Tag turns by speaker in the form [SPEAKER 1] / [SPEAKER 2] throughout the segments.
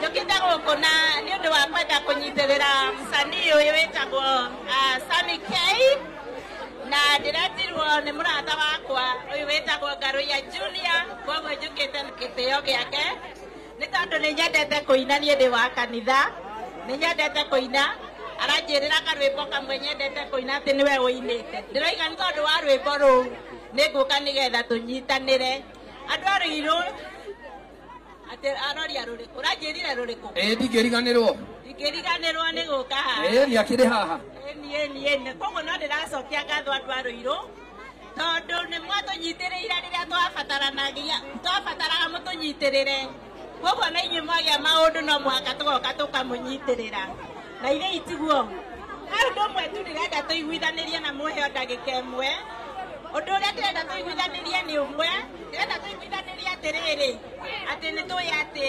[SPEAKER 1] njũkĩte gũkũ na nĩ ũndũ wa kwenda kũnyitĩrĩra msanii ũyũ wĩtagwo ah, Sammy K na ndĩretirwo nĩ mũrata wakwa ũyũ wĩtagwo Ngarũiya Junior koguo njũkĩte gĩtĩo gĩake nĩ tondũ nĩ nyendete kũina niĩ ndĩ wa kanitha nĩ nyendete kũina aranjĩrĩra karwĩmbo kamwe nyendete kũina atĩ nĩwe ũinĩte ndĩroiga nĩ tondũ wa rwĩmbo rũu nĩ ngũka nĩgetha tũnyitanĩre andũ a rũirũ atĩ aroria rũrĩkũ ũranjĩrire rũrĩkũ ĩĩ ndingĩriganĩrwo
[SPEAKER 2] ndingĩriganĩrwo
[SPEAKER 1] nĩ gũka haha ĩĩ nĩ akĩrĩ haha
[SPEAKER 2] ĩni ĩni ĩni
[SPEAKER 1] koguo no ndĩracokia ngatho andũ a rũirũ tondũ nĩ mwatũnyitĩrĩire rĩrĩa twabataranagia twabataraga mũtũnyitĩrĩre koguo na inyuĩ mwagĩa maũndũ no mũhaka tũgoka tũkamũnyitĩrĩra na irĩ itiguo he ũndũ ũmwe tu ndĩrenda tũiguithanĩrie na mũhe o ndagĩka ĩmwe ũndũ ũrĩa ndĩrenda tũiguithanĩrie nĩ ũmwe ndĩrenda tũiguithanĩrie atĩrĩrĩ atĩ nĩ tũĩ atĩ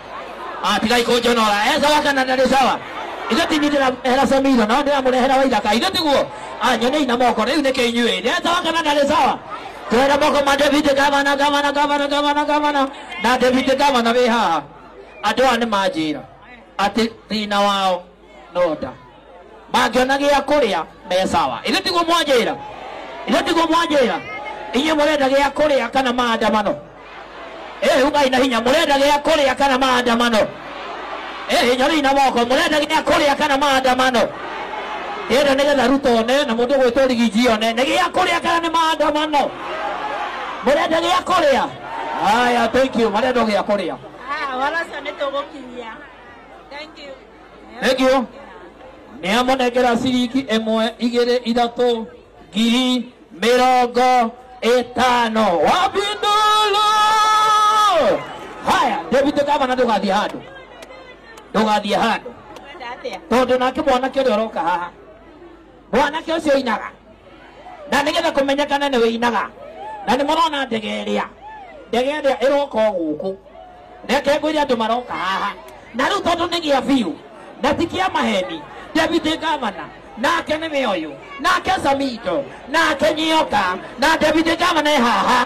[SPEAKER 2] Ah, tigai kunjonora eh sawa kana ndarĩ sawa ithe ti nindira hera samira no ndira murehera wa ithaka ithe tiguo ah nyone ina moko riu nike inyuĩ eh sawa kana ndarĩ sawa twera moko ma David gavana gavana gavana gavana gavana na David gavana wĩ haha andũ aya nĩ manjĩra atĩ thĩna wao noda mangĩona gĩa kũrĩa me sawa ithuĩ tiguo mwanjĩra ithuĩ tiguo mwanjĩra inyuĩ mũrenda gĩa kũrĩa kana maandamano ĩ ugai na hinya mũrenda gĩa kũrĩa kana maandamano ĩ hinya rĩu na moko mũrenda gĩa kũrĩa kana maandamano ĩrĩa nĩgetha ruto one na mũndũ gwĩtwo rigiji one nĩ gĩa kũrĩa kana nĩ maandamano mũrenda gĩa kũrĩa haya thank you marenda gĩa kũrĩa Ah, wala sana
[SPEAKER 1] nitogokimia. Thank you.
[SPEAKER 2] negio nĩamonengera ciringi ĩmwe igĩrĩ ithatũ ngiri mĩrongo ĩtano wabindulu haya deputy gavana ndũgathiĩ handũ ndũgathiĩ handũ tondũ nake mwanake ũrĩa ũroka haha mwanake ũcio inaga na nĩgetha kũmenyekana nĩ wĩinaga na nĩ mũrona ndege ĩrĩa ndege ĩrĩa ĩroka o gũkũ reke ngwĩre andũ maroka haha na rĩu tondũ nĩ gĩa biũ na ti kĩa maheni deputy governor nake nĩ we ũyũ nake samido nake nyoka na deputy governor e haha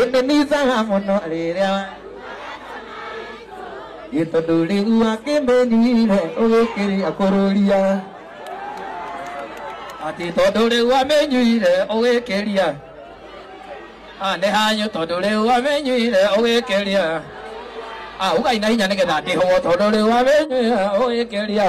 [SPEAKER 3] ĩndĩ nĩicaga mũno rĩrĩa ĩ tondũ rĩu akĩmenyire ũgĩkĩria kũrũria atĩ tondũ rĩu amenyire ũgĩkĩria nĩ hanyu tondũ rĩu amenyire ũgĩkĩria ugai na hinya nĩgetha ndĩhwo tondũ rĩu amenyire ũgĩkĩria